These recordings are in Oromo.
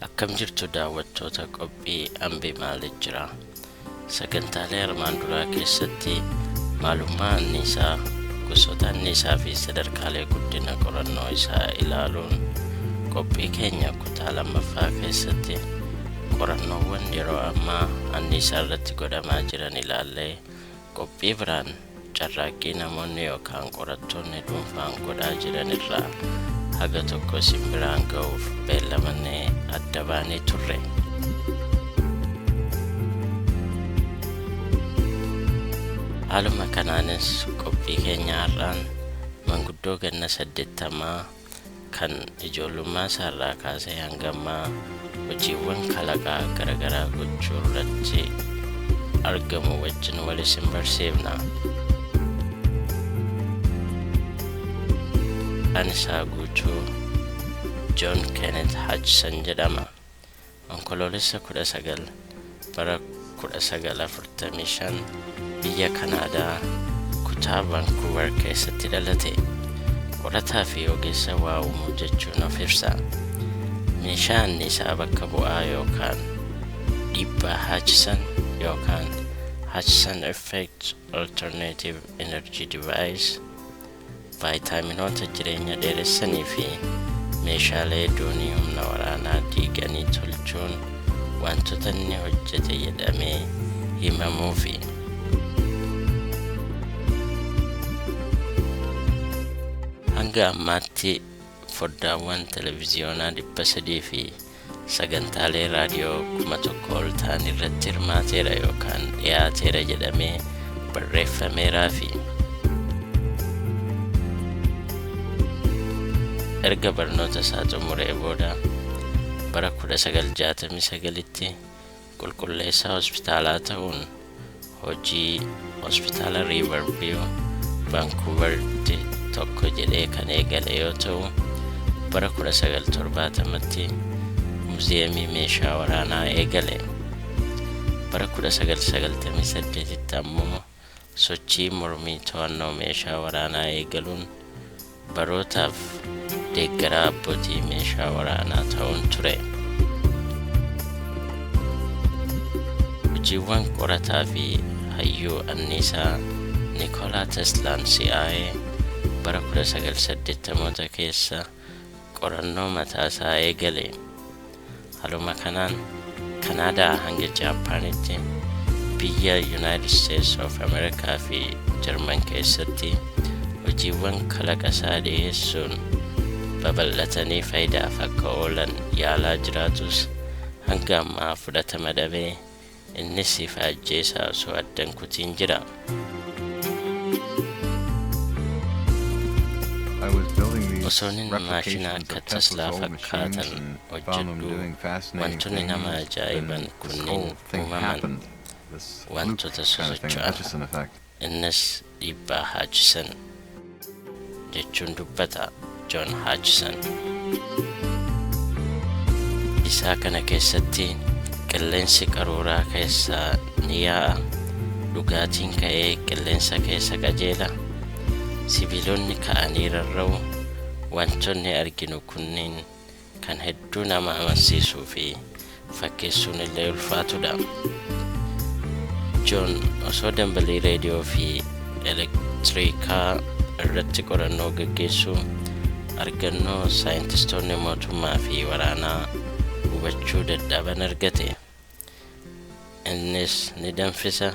Akkam jirtu daawwattoota qophii Ambee Maaliif Jira? Sagantaalee armaan duraa keessatti maalummaa anniisaa, gosoota anniisaa fi sadarkaalee guddina qorannoo isaa ilaaluun qophii keenya kutaa lammaffaa keessatti qorannoowwan yeroo ammaa anniisaa irratti godhamaa jiran ilaallee qophii biraan Carraaqqii namoonni yookaan qorattoonni dhuunfaan godhaa jiran irraa haga tokko isin biraan ga'uuf beellamannee adda baanee turre. Haaluma kanaanis qophii keenya har'aan manguddoo ganna saddeettamaa kan ijoollummaa isaarraa kaasee hanga ammaa hojiiwwan kalaqaa garaagaraa gochuu irratti argamu wajjin wal isin barsiifna. Anisaa Guutuu Joon Keenet Hajsan jedhama. Onkoloolessa 19 bara 1945 biyya Kanaadaa kutaa Vancouver keessatti dhalate. Qorataa fi ogeessa waa uumuu jechuun of ibsa. Meeshaa anniisaa bakka bu'aa yookaan dhiibbaa Hutchison yookaan Hutchison Effect Alternative Energy Device Vaayitaaminoota jireenya dheeressanii fi meeshaalee doonii humna waraanaa diiganii tolchuun wantoota inni hojjete jedhamee himamuufi. Hanga ammaatti foddaawwan televiziyoonaa 300 fi sagantaalee raadiyoo kuma tokko ol ta'an irratti hirmaateera yookaan dhiyaateera jedhamee barreeffameeraa fi erga barnoota isaa xumuree booda bara 1969tti Qulqulleessaa hospitaalaa ta'uun hojii Hospitaala Riivar Viiw Vaankuuvaritti tokko jedhee kan eegale yoo ta'u, bara 1970tti Muuziyeemii Meeshaa Waraanaa eegale. Bara 1998tti ammoo. sochii mormii to'annoo meeshaa waraanaa eegaluun barootaaf deeggaraa abbootii meeshaa waraanaa ta'uun ture. Hojiiwwan qorataa fi hayyuu anniisaa Nikoolaa Teslaan si'aa'ee bara 1980moota keessa qorannoo mataa isaa eegale. Haluma kanaan Kanaadaa hanga Jaappaanitti biyya Yunaayitid Isteets of Ameerikaa fi Jarman keessatti hojiiwwan kalaqa isaa dhiyeessuun babal'atanii faayidaaf akka oolan yaalaa jiraatus hanga ammaa fudhatama dhabee Innis siif haa ajjeesaa osoo adda hin kutiin jira. Osoonin maashina akka Taslaa fakkaatan hojjedhuu wantonni nama ajaa'iban kunniin uumaman, wantota sosocho'an. Innis dhiibbaa Haachisen jechuun dubbata Joon Haachisen. Isaa kana keessatti qilleensi qaruuraa keessa ni yaa'a, dhugaatiin ka'ee qilleensa keessa qajeela, sibiilonni ka'anii rarra'u, wantoonni arginu kunniin kan hedduu nama amansiisuu fi fakkeessuun illee ulfaatudha. Joon osoo dambalii reediyoo fi elektiriikaa irratti qorannoo gaggeessuu argannoo saayintistoonni mootummaa fi waraanaa hubachuu dadhaban argate. Innis ni danfisa,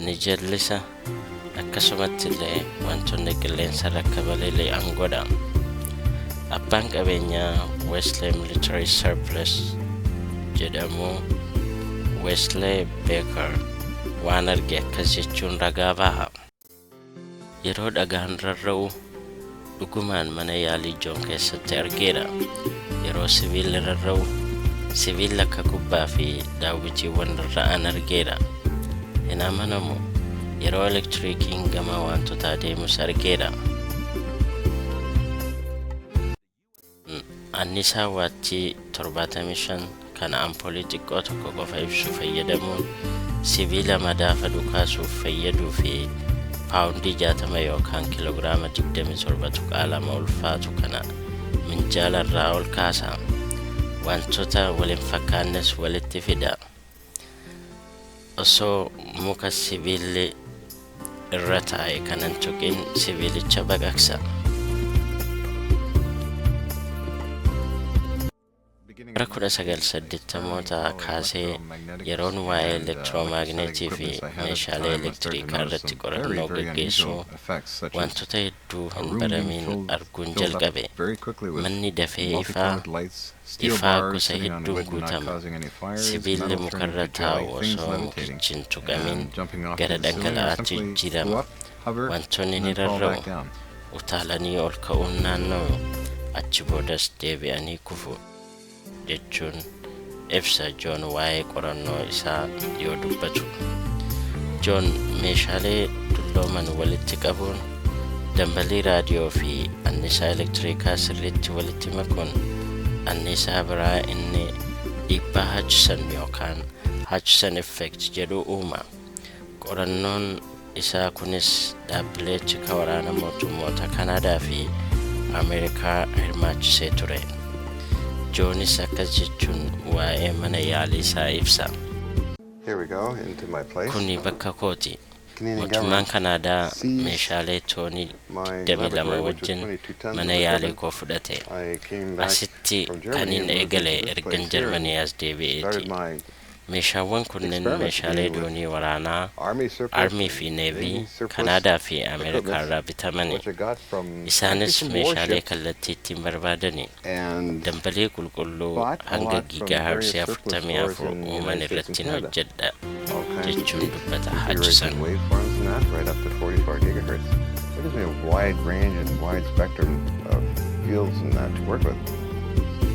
ni jallisa, akkasumatti illee wantoonni qilleensa irra akka balali'an godha. Abbaan qabeenyaa Wesley Military Surplus jedhamu Wesley Baker waan arge akkas jechuun ragaa baha. Yeroo dhagaan rarra'u dhugumaan mana yaalii Joon keessatti argeera. Yeroo sibiilli rarra'u sibiilli akka kubbaa fi daawwitiiwwan rarra'an argeera. Hin amanamu. Yeroo elektiriikiin gama waantotaa deemus argeera. Annisaa waattii 75 kan ampoolii xiqqoo tokko qofa ibsu fayyadamuun sibiila madaafa dhukaasuuf fayyaduu fi paawundii 60 yookaan kiloogiraama 27.2 ulfaatu kana minjaala irraa ol kaasa. Wantoota wal hin fakkaannes walitti fida. Osoo muka sibiilli irra taa'e kan hin tuqin sibiilicha baqaqsa. Bara 1980mootaa kaasee yeroon waa'ee elektiroomagneetii fi meeshaalee elektiriikaa irratti qorannoo gaggeessu wantoota hedduu hedduu hin baramiin arguun jalqabe. Manni dafee ifaa, ifaa gosa hedduun guutama. Sibiilli mukarra taa'u osoo mukichi hin tuqamiin gara dhangala'aatti jijjiirama. Wantoonni ni rarra'u, utaalanii ol ka'uun naanna'u, achi boodas deebi'anii kufu. jechuun ibsa Joon waa'ee qorannoo isaa yoo dubbatu. Joon meeshaalee dullooman walitti qabuun dambalii raadiyoo fi annisaa elektiriikaa sirriitti walitti makuun annisaa biraa inni dhiibbaa Hutchison yookaan Hutchison effect jedhu uuma. Qorannoon isaa kunis dhaabbilee tika waraana mootummoota Kanaadaa fi Ameerikaa hirmaachisee ture. Joonis akkas jechuun waa'ee mana yaalii isaa ibsa. Here we go into my place. Kuni bakka kooti. Canadian Mootummaan government Kanaadaa seized meeshaalee toonii my 22 laboratory, which was wajjin 22 tons mana of yaalii equipment. koo fudhate. I came back Asitti from Germany kanin and moved eegale into this ergan place here and Jarmanii as deebi'eeti. started my Meeshaawwan kunneen meeshaalee doonii waraanaa Armii fi Navy Kanaadaa fi Ameerikaa irraa bitamani. Isaanis meeshaalee kallattii ittiin barbaadani dambalii qulqulluu hanga giigaaharzii 44 uuman irrattin hojjedha, jechuun dubbata Haachison.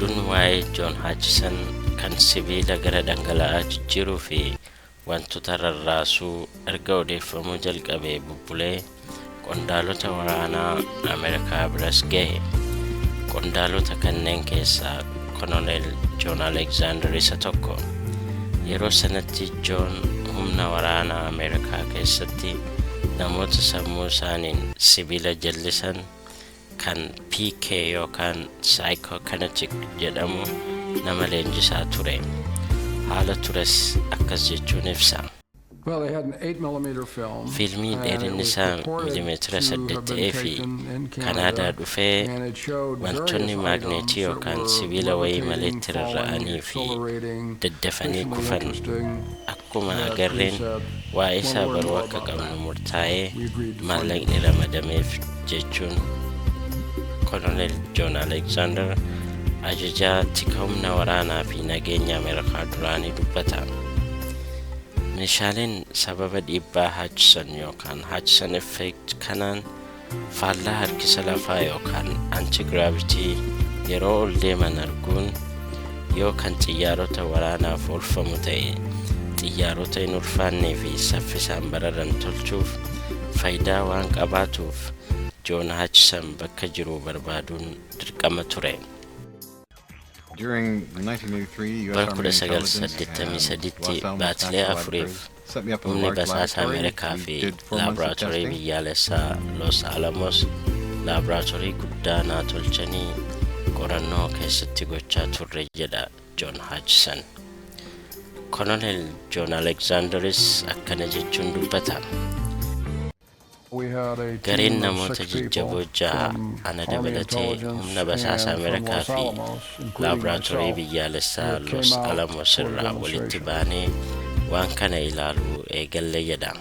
Oduun waa'ee Joon Haachisan. kan sibiila gara dhangala'aa jijjiiruu fi wantoota rarraasuu erga odeeffamuu jalqabee bubbulee qondaalota waraanaa Ameerikaa biras gahe. Qondaalota kanneen keessaa Kononeel Joon Aleksaandar isa tokko. Yeroo sanatti Joon humna waraanaa Ameerikaa keessatti namoota sammuu isaaniin sibiila jallisan kan PK yookaan Psychokinetic jedhamu nama leenjisaa ture. Haala tures akkas jechuun ibsa. Well, they had an 8 millimeter film. Fiilmii and it dheerinni was isaa purported milimeetira to have saddeet been ta'ee fi taken in Kanaadaa Canada, dhufee and it showed various wantoonni items maagneetii that yookaan were sibiila wayii malee levitating, falling, tirarra'anii fi accelerating, daddafanii visually kufan interesting. Akkuma agarreen waa'ee isaa baruu akka qabnu murtaa'ee maallaqni ramadameef jechuun Kolonel Joon Aleksaandar ajajaa tika humna waraanaa fi nageenya Ameerikaa duraanii dubbata. Meeshaaleen sababa dhiibbaa Hutchison yookaan Hutchison effect kanaan Faallaa harkisa lafaa yookaan antigiraavitii yeroo ol deeman arguun yoo kan xiyyaarota waraanaaf oolfamu ta'e xiyyaarota hin ulfaannee fi saffisaan bararan tolchuuf faayidaa waan qabaatuuf Joon Haachisan bakka jiru barbaaduun dirqama ture. Bara 1983tti baatilee afuriif humni basaasaa Ameerikaa fi laaboraatoorii biyyaalessaa Los Alamos laaboraatoorii guddaa naa tolchanii qorannoo keessatti gochaa turre jedha Joon Haachisan. Kolonel Joon Aleksaandaris akkana jechuun dubbata. Gareen namoota jajjaboo jaha ana dabalatee humna basaasa Ameerikaa fi laaboraatoorii biyyaalessaa Los Alamos irraa walitti baanee waan kana ilaaluu eegalle jedha.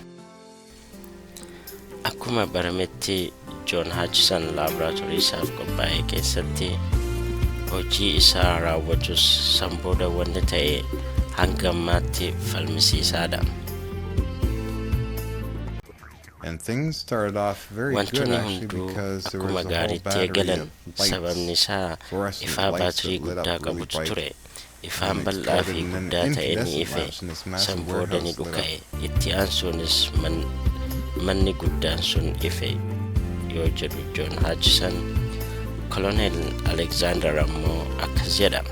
Akkuma barametti Joon Haachisan laaboraatoorii isaaf qophaa'e keessatti hojii isaa raawwatus san booda wanni ta'e hanga ammaatti falmisiisaadha. Wantoonni hunduu akkuma gaariitti eegalan, sababni isaa ifaa baatirii guddaa qabutu ture. Ifaan bal'aa fi guddaa ta'e ni ife, san booda ni dhuka'e, itti aansuunis manni guddaan sun ife yoo jedhu Joon Haachisan, Koloneel Aleksaandar ammoo akkas jedha.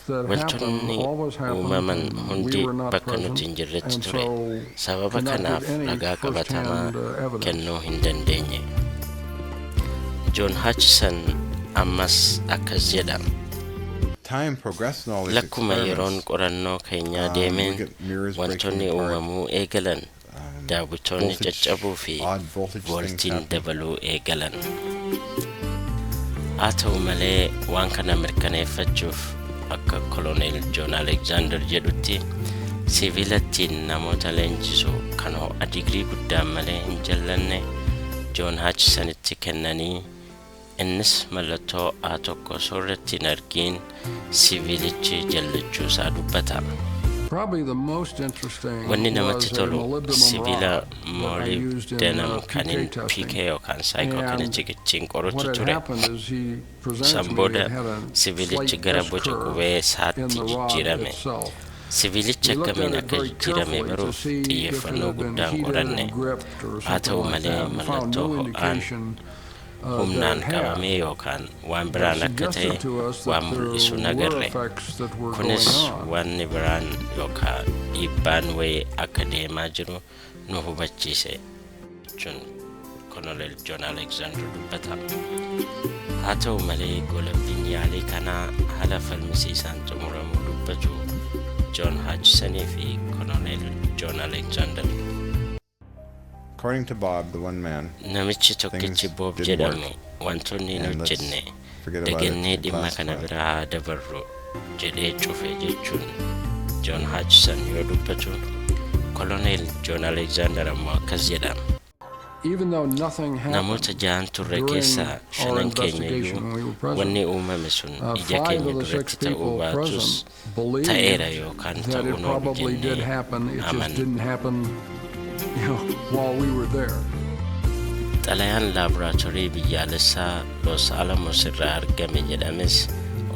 Wantoonni uumaman hundi bakka nuti hin jirretti ture. Sababa kanaaf ragaa qabatamaa kennuu hin dandeenye. Joon Haachisan ammas akkas jedha. Lakkuma yeroon qorannoo keenyaa deemeen wantoonni uumamuu eegalan. daawwitoonni caccabuu fi vooltiin dabaluu eegalan. Haa ta'u malee waan kana mirkaneeffachuuf akka koloneel Joon Alekzaandar jedhutti siviilattiin namoota leenjisu kan ho'a digirii guddaan malee hin jallanne Joon Haachisanitti kennanii Innis mallattoo A1 osoo irratti hin argiin siviilichi jallachuu isaa dubbata. Probably the most interesting Wanni namatti was a tolu molybdenum sibiila rod that I molib used in denam uh, kan PK PK testing. yookaan saayikoo And kanichik ittiin what qorutu had ture. happened is he presented San to me booda it had a sibiilichi slight gara S boca curve qubee in saatti the rod jijjiirame. itself. Sibiilichi We looked akkamiin at it akka very jijjiirame carefully to baruuf see if it xiyyeeffannoo had been guddaan heated qoranne. and gripped or Haa something ta'u like malee that and found mallattoo no ho'aan indication humnaan qabamee yookaan waan biraan akka ta'e waan mul'isu nagarre. Kunis wanni biraan yookaan dhiibbaan wayii akka deemaa jiru nu hubachiise jechuun Koloneel Joon Aleksaandar dubbata. Haa ta'u malee goolabbiin yaalii kanaa haala falmisiisaan xumuramuu dubbatu Joon Haachisanii fi Koloneel Joon Aleksaandar. According to Bob, the one man, Namichi tokkichi things Boob didn't jedhamu work. wantoonni hin And let's hojjenne forget about it dagannee and dhimma kana classify. bira haa dabarru jedhee cufe jechuun Joon Haachisan yoo dubbatu koloneel Joon Aleekzaandar ammoo akkas jedha. Even though nothing happened, Namoota jahan turre during keessaa our shanan keenya investigation iyyuu when we were present, wanni uumame sun uh, ija five keenya of the six duratti ta'uu people baatus present ta'eera yookaan ta'uu hin oolu jennee amanna. Xalayaan laaboraatoorii biyyaalessaa Los Alamos irraa argame jedhames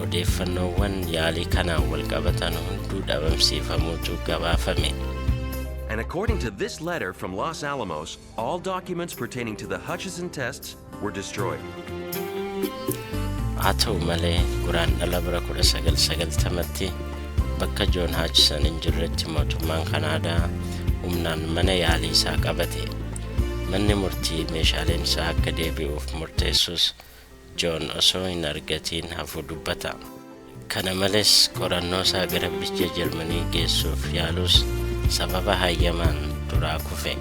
odeeffannoowwan yaalii kanaan walqabatan hunduu dhabamsiifamuutu gabaafame. And according to this letter from Los Alamos, All documents pertaining to the Hutchison tests were destroyed. Haa ta'u malee Guraandhala bara 1990tti bakka Joon Haachisan hin jirretti mootummaan Kanaadaa humnaan mana yaalii isaa qabate. Manni murtii meeshaaleen isaa akka deebi'uuf murteessus Joon osoo hin argatiin hafuu dubbata. Kana malees qorannoosaa gara biyya Jarmanii geessuuf yaaluus sababa hayyamaan duraa kufe.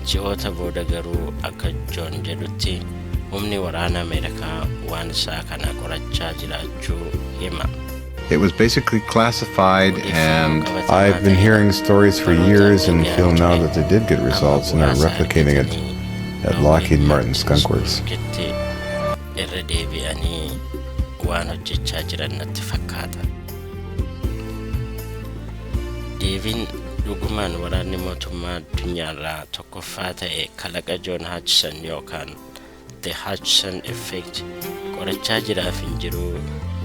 Ji'oota booda garuu akka Joon jedhutti humni waraana Ameerikaa waan isaa kana qorachaa jiraachuu hima. It was basically classified and I've been hearing stories for years and feel now that they did get results and are replicating it at Lockheed Martin Skunk Works. irra deebi'anii waan hojjechaa jiran natti fakkaata. Deebiin dhugumaan waraanni mootummaa addunyaarraa tokkoffaa ta'e kalaqa Joon Haachison yookaan The Hutchison Effect qorachaa jiraaf hin jiruu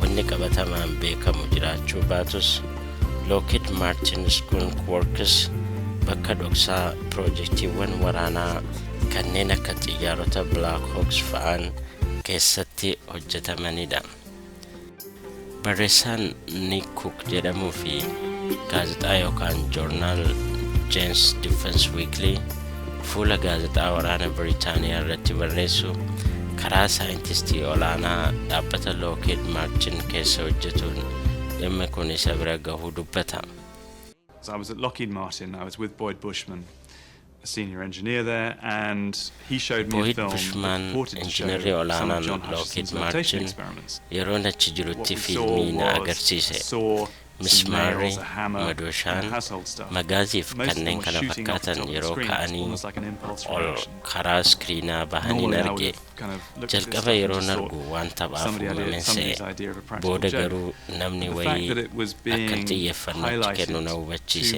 wanni qabatamaan beekamu jiraachuu baatus Lockheed Martin Skunk Works bakka dhoksaa piroojektiiwwan waraanaa kanneen akka xiyyaarota Black Hawks fa'aan keessatti hojjetamanidha. Barreessaan Niik Kuuk jedhamuu fi gaazexaa yookaan joornaal Jeen's Defense Weekly fuula gaazexaa waraana Biriitaaniyaa irratti barreessu karaa saayintistii olaanaa dhaabbata Lockheed Martin keessa hojjetuun dhimmi kun isa bira gahuu dubbata. I was at Lockheed Martin. I was with Boyd Bushman. Toohid Bushmaan injinarri olaanaan Lookhiid Maartin yeroon achi jirutti fiilmii na agarsiise. Mismaarri, madooshaan, magaaziif kanneen kana fakkaatan yeroo ka'anii ol karaa iskiriinaa bahaniin arge. Jalqaba yeroon argu waan taphaaf uumameen se'e. Booda garuu namni wayii akkan xiyyeeffanno itti kennu na hubachiise.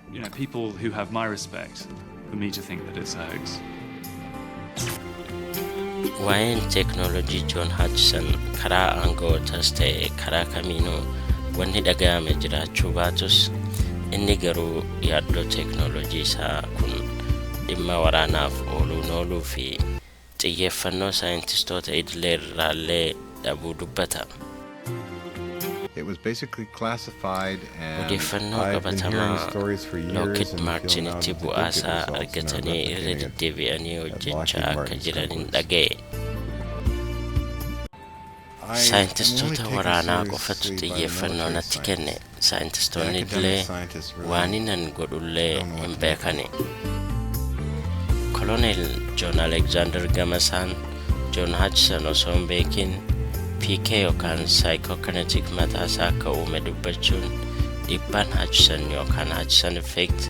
You know, people who have my respect for me to think that it's a hoax. Waa'een teeknooloojii Joon Haachison karaa aanga'ootas ta'e karaa kamiinuu wanni dhaga'ame jiraachuu baatus inni garuu yaaddoo teeknooloojii isaa kun dhimma waraanaaf ooluun ooluu fi xiyyeeffannoo saayintistoota idilee irraallee dhabuu dubbata. It was basically classified and Odeeffannoo I've been hearing qabatamaa stories for years Lockheed and feel now Martin need itti to bu'aa get the isaa results and are argatanii irra replicating it deddeebi'anii at hojjechaa Lockheed akka Martin jiran hin Stokely. dhaga'e. Saayintistoota waraanaa qofatu xiyyeeffannoo natti kenne, saayintistoonni illee waaninan godhu illee hin beekani. Koloneel Joon Alekzaandar gama isaan Joon Haajsan osoo hin beekin PK yookaan saayikookinetik mataa isaa akka uume dubbachuun dhiibbaan Haajsan yookaan Haajsan effect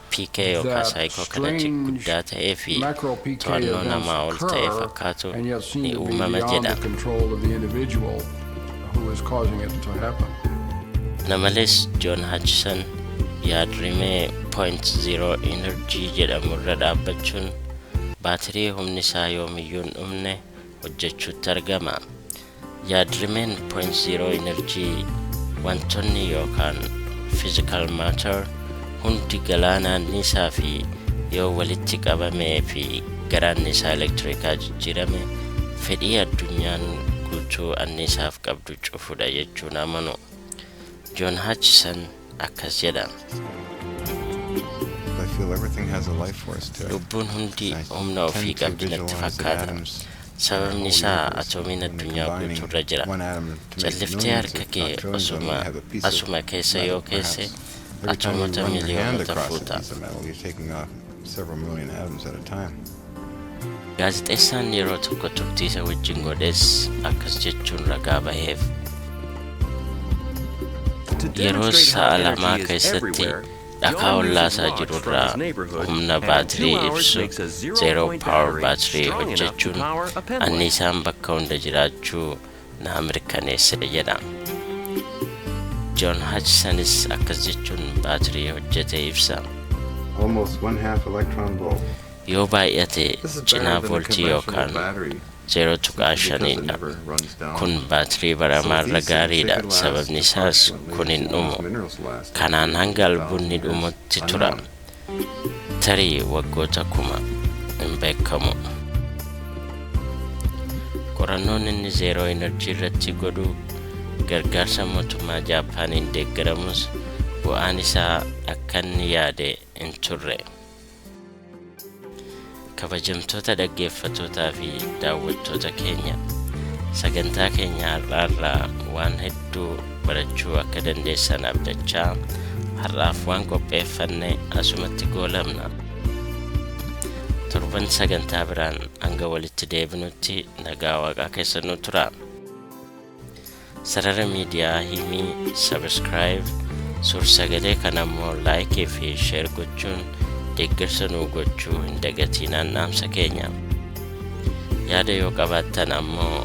PK yookaa saayikookalaji guddaa ta'ee fi to'annoo namaa ol ta'e fakkaatu ni uumama jedha. Kana malees Joon Haachison yaadrimee Point Zero Energy jedhamu irra dhaabbachuun baatirii humni isaa yoomiyyuu hin dhumne hojjechuutti argama. Yaadrimeen point zero energy wantoonni yookaan physical matter hundi galaanaa niisaa fi yoo walitti qabamee fi garaan niisaa elektirikaa jijjiirame fedhii addunyaan guutuu anniisaaf qabdu cufudha jechuun amanu. John Hutchison akkas jedha. Lubbuun hundi humna ofii qabdi natti fakkaata. Sababni isaa atoomiin addunyaa guutuurra jira. Calliftee harka kee osuma asuma keessa yoo keesse atoomota miliyoonota fuuta. several million atoms at a time. Gaazexeessaan yeroo tokko turtii isa wajjin godhes akkas jechuun ragaa baheef. Yeroo sa'a lamaa keessatti dhakaa ollaasaa jirurraa humna baatirii ibsu zeeroo paawar baatirii hojjechuun anniisaan bakka hunda jiraachuu naa mirkaneesse jedha. John Hutchisonis akkas jechuun baatirii hojjete ibsa. almost one half electron volt. Yoo baay'ate This is better cinaa than the voltii conventional yookaan battery 0.5dha. Kun baatirii baramaarra gaariidha, sababni isaas kun hin dhumu. Kanaan hanga albuudni dhumutti tura. Tarii waggoota kuma hin beekamu. Qorannoon inni zeeroo enerjii irratti godhu gargaarsa mootummaa Jaappaaniin deeggaramus bu'aan isaa akka inni yaade hin turre. Kabajamtoota dhaggeeffatootaa fi daawwattoota keenya sagantaa keenya har'aarraa waan hedduu barachuu akka dandeessan abdachaa har'aaf waan qopheeffanne asumatti goolabna. Torban sagantaa biraan hanga walitti deebinutti nagaa waaqaa keessa nu tura. Sarara miidiyaa Himii Subscribe, Suursagalee kana immoo Like fi Share gochuun deeggarsa nuu gochuu hin dagatiinaan dhaamsa keenya. Yaada yoo qabaattan ammoo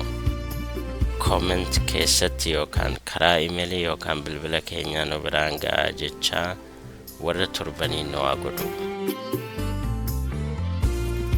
comment keessatti yookaan karaa imeelii yookaan bilbila keenyaa nu biraan ga'aa jechaa warra turbanii nu haa godhu.